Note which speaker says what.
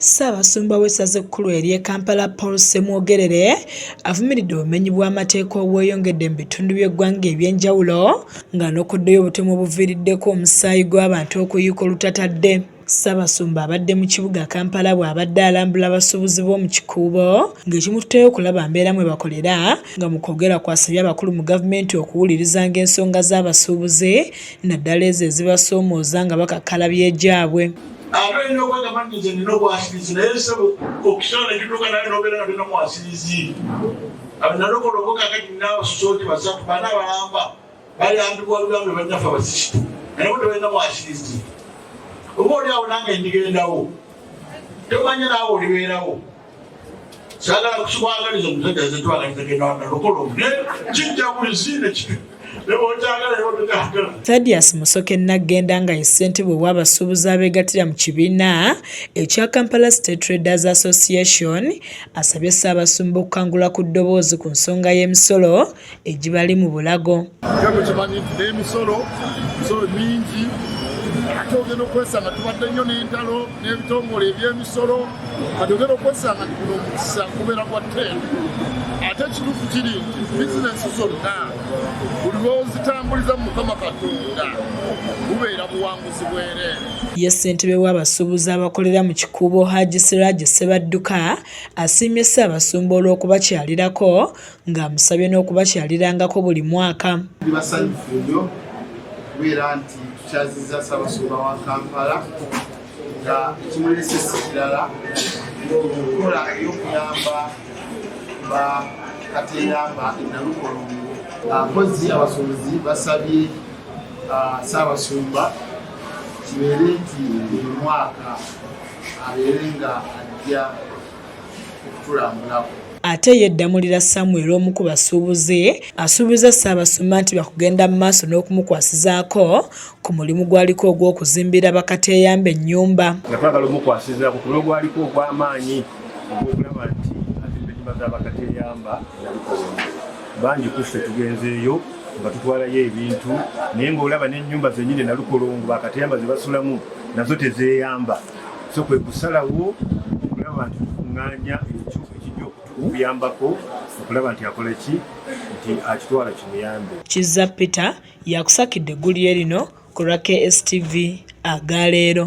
Speaker 1: Ssaabasumba w'essaza ekkulu ery'e Kampala Paul Ssemwogerere avumiridde obumenyi bw'amateeka obweyongedde mu bitundu by'eggwanga eby'enjawulo ng'anokoddeyo obutemu obuviiriddeko omusaayi gw'abantu okuyiika olutatadde. Ssaabasumba abadde mu kibuga Kampala bw'abadde alambula abasuubuzi b'omu Kikuubo ng'ekimututeyo okulaba mbeera mwe bakolera nga mu kwogera kwe asabye abakulu mu gavumenti okuwulirizanga ensonga z'abasuubuzi naddala ezo ezibasoomooza nga bakakkalabya egyabwe. ate olina
Speaker 2: okwegamba nti nze nina obwasirizi naye sebo okisala nekituuka naye nobeera nga tolina mwasirizi nalokola oboka kati nabasusooti basatu bana balamba bayambibwa lugambe bannaffe abasisitu naye bo tebalina mwasirizi oba oli awo nange ndigendawo tomanya naawe olibeerawo sagala kukikwagaliza omusajja
Speaker 1: Thaddeus Musoke Naggenda nga ye ssentebe w'abasuubuzi abeegattira mu kibiina ekya Kampala State Traders Association asabye Ssaabasumba okukangula ku ddoboozi ku nsonga y'emisolo egibali mu bulago
Speaker 3: emisolo mingi ate ogenda okwesanga tubadde nnyo n'entalo n'ebitongole ebyemisolo kati ogenda okwesanga kuno omukisa kubeera kwa ten ate ekituufu kiri nti bizinesi zonna buli lwozitambuliza mu mukama katonda bubeera buwanguzi bwereere ye ssentebe
Speaker 1: w'abasuubuzi abakolera mu kikuubo haji siraje ssebadduka asiimye ssaabasumba olw'okubakyalirako ng'amusabye n'okubakyalirangako buli mwaka. Tuli basanyufu nnyo
Speaker 3: okubeera nti tukyazizza Ssaabasumba wa Kampala nga ekimulesa si kirala okukola ey'okuyamba ba kateyamba enalukolongo mpozi ah, abasuubuzi basabye ah, Ssaabasumba kibeere nti buli mwaka abeere nga ajja okutulambulako. Ate
Speaker 1: ye Ddamulira Samuel omu ku basuubuzi asuubizza Ssaabasumba nti bakugenda mu maaso n'okumukwasizaako ku mulimu gwaliko ogw'okuzimbira bakateeyamba ennyumba. Nga twagala omukwasizaako
Speaker 4: ku mulimu gwaliko ogw'amaanyi ogw'okulaba nti azimba ennyumba za bakateeyamba bangi ku ffe tugenzeeyo nga tutwalayo ebintu naye ng'olaba n'ennyumba zennyini nalukolongo bakateyamba ze basulamu nazo tezeeyamba so kwe kusalawo okulaba nti tukuŋŋaanya ekyo ekijja okutuyambako okulaba nti akola ki nti akitwala kimuyambe kizza peter yakusakidde eggulire lino ku lwa kstv aga leero